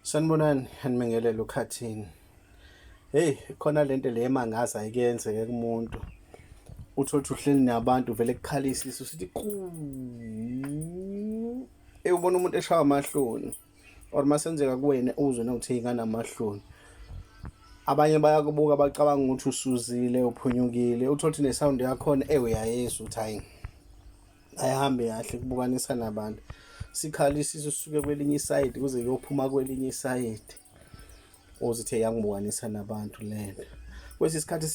Sanibonani, anibingelele ukhathini. Hey, khona lento le emangaza ayikenzeke kumuntu. Uthi othi uhleli nabantu vele kukhalisa isu sithi quu. Ey ubona umuntu eshawa amahloni. Or masenzeka kuwena uzwe nokuthi ingana amahloni. Abanye bayakubuka bacabanga ukuthi usuzile uphunyukile. Uthi othi ne sound yakhona ey uyayizwa uthi hayi. ayihambe kahle kubukanisa nabantu sikhala isisu sisuke kwelinye isayidi kuze kuyophuma kwelinye isayidi ozithe yangibukanisa nabantu lento kwesi sikhathi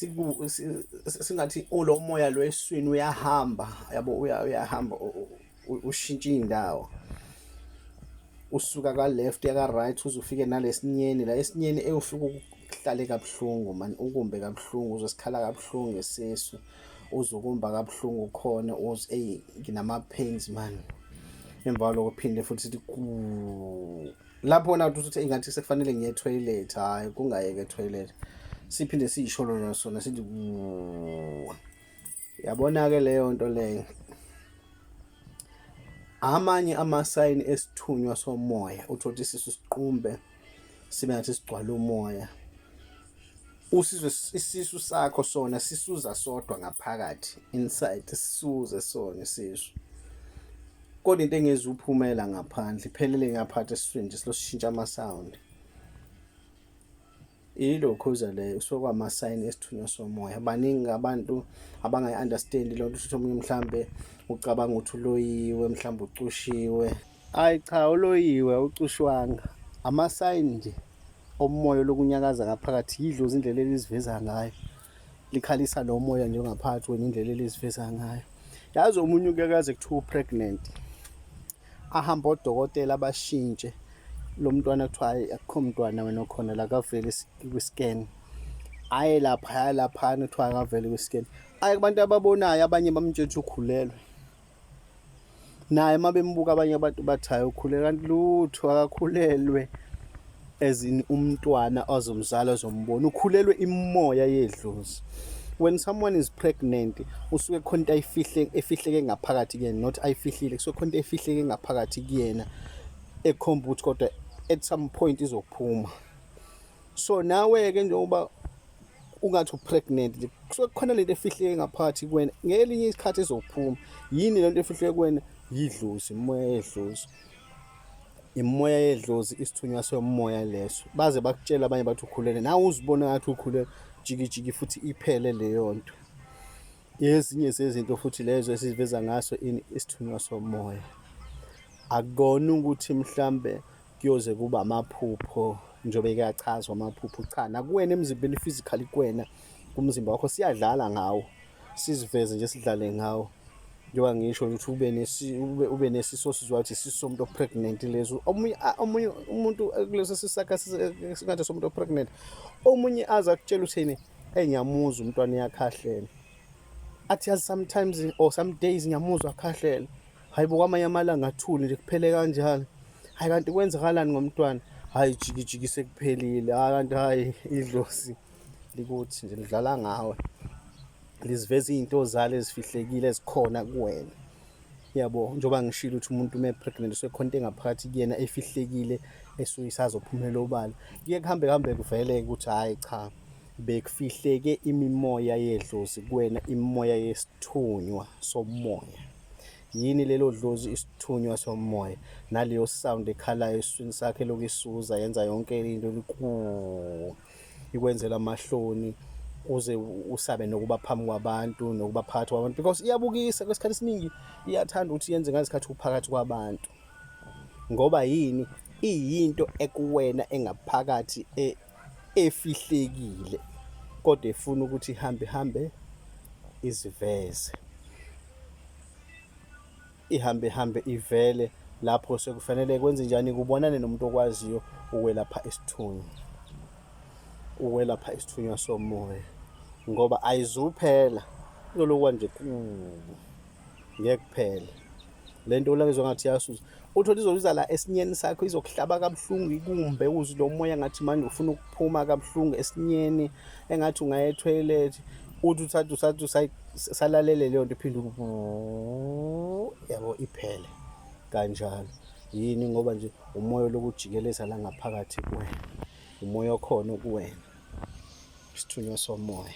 singathi ulo moya lo eswini uyahamba yabo uyahamba ushintsha indawo usuka ka left ya ka right uzufike nalesinyeni la esinyeni eyofika ukuhlale kabuhlungu man ukumbe kabuhlungu uzosikhala kabuhlungu ngesisu uzukumba kabuhlungu khona uz ey nginama pains man emva lokho phinde futhi sithi lapho na ukuthi ingathi sekufanele ngiye toilet hayi kungayeke toilet siphinde siyisholo nasona sithi yabona ke leyo nto leyo amanye amasayini esithunywa somoya uthothisisa isiqumbe sibe ngathi sigcwala umoya usizwe isisu sakho sona sisuza sodwa ngaphakathi inside sisuze sona isisu kodwa into engezi uphumela ngaphandle iphelele ngaphathi esiswini nje silosishintsha ama sound ilokho uza le usokwama sign esithunywa somoya baningi abantu abangayi understand lonto ukuthi omunye mhlambe ucabanga ukuthi uloyiwe mhlambe ucushiwe Ayi cha uloyiwe awucushwanga amasayini nje omoya lokunyakaza ngaphakathi yidlozi indlela eliziveza ngayo likhalisa lo moya nje ngaphakathi wena indlela eliziveza ngayo yazi omunye ukuyakaze kuthiwa upregnant ahambe odokotela abashintshe lo mntwana kuthiwa hayi akukho mntwana wena okhona la kavele kwi-scan aye laphaya laphana kuthiwa akavele kwi-scan aye kubantu ababonayo abanye bamtshentsha ukhulelwe naye uma bembuka abanye abantu bathi hayi ukhule kanti lutho akakhulelwe ezini umntwana ozomzala ozombona ukhulelwe imoya yedlozi when someone is pregnant usuke khona into ayifihle efihleke ngaphakathi kuyena not ayifihlile kusuke khona into efihleke ngaphakathi kuyena ekhomba ukuthi kodwa at some point izophuma so nawe ke njengoba ungathi upregnant nje kusuke kukhona lento efihleke ngaphathi kuwena ngelinye isikhathi ezophuma yini lento efihleke kuwena yidlozi imoya yedlozi imoya yedlozi isithunywa somoya leso baze bakutshela abanye bathi ukhulele nawe uzibona ngathi ukhulele jikijiki futhi iphele leyo nto ezinye zezinto futhi lezo esiveza ngaso ini isithunywa somoya akona ukuthi mhlambe kuyoze kube amaphupho njengoba kuyachazwa amaphupho cha nakuwena emzimbeni physically kuwena kumzimba wakho siyadlala ngawo siziveze nje sidlale ngawo njengoba ngisho ukuthi ube nesi ube, ube nesiso sizwa ukuthi isiso somuntu opregnant lezo omunye omunye umuntu kuleso sisakha singathi somuntu opregnant omunye aza kutshela uthini hey ngiyamuzwa umntwana uyakhahlela athi yazi sometimes or some days ngiyamuzwa akhahlela hayi bo kwamanye amalanga athule nje kuphele kanjalo hayi kanti kwenzakalani ngomntwana hayi jikijiki sekuphelile hayi kanti hayi idlozi likuthi nje lidlala ngawe liziveza izinto zalo ezifihlekile ezikhona kuwena yabo njengoba ngishilo ukuthi umuntu uma pregnant usekhona into engaphakathi kuyena efihlekile esuke isazophumela obala kuye kuhambe kuhambe kuvele ukuthi hayi cha bekufihleke imimoya yedlozi kuwena imimoya yesithunywa somoya Yini lelo dlozi isithunywa somoya naleyo sound ekhalayo esiswini sakhe lokhu isuza yenza yonke into likuu ikwenzela amahloni uze usabe nokuba phambi kwabantu nokuba phakathi kwabantu because iyabukisa kwesikhathi esiningi iyathanda ukuthi yenze ngazikhathi uphakathi kwabantu ngoba yini iyinto ekuwena engaphakathi e, efihlekile kodwa efuna ukuthi ihambe ihambe iziveze ihambe ihambe ivele lapho sekufanele kwenze njani kubonane nomuntu okwaziyo ukwelapha isithunywa ukwelapha isithunywa somoya ngoba ayizuphela lolokwa nje kubo ngeke kuphele le nto ulakizwa ngathi yasuza uthole izobiza la esinyeni sakho izokuhlaba kabuhlungu ikumbe uzwe lo moya ngathi manje ufuna ukuphuma kabuhlungu esinyeni engathi ungaya ethoyilethi uthi uthathe usathu salalele leyo nto iphinde yabo iphele kanjalo yini ngoba nje umoya lokujikeleza la ngaphakathi kuwena umoya okhona kuwena isithunywa somoya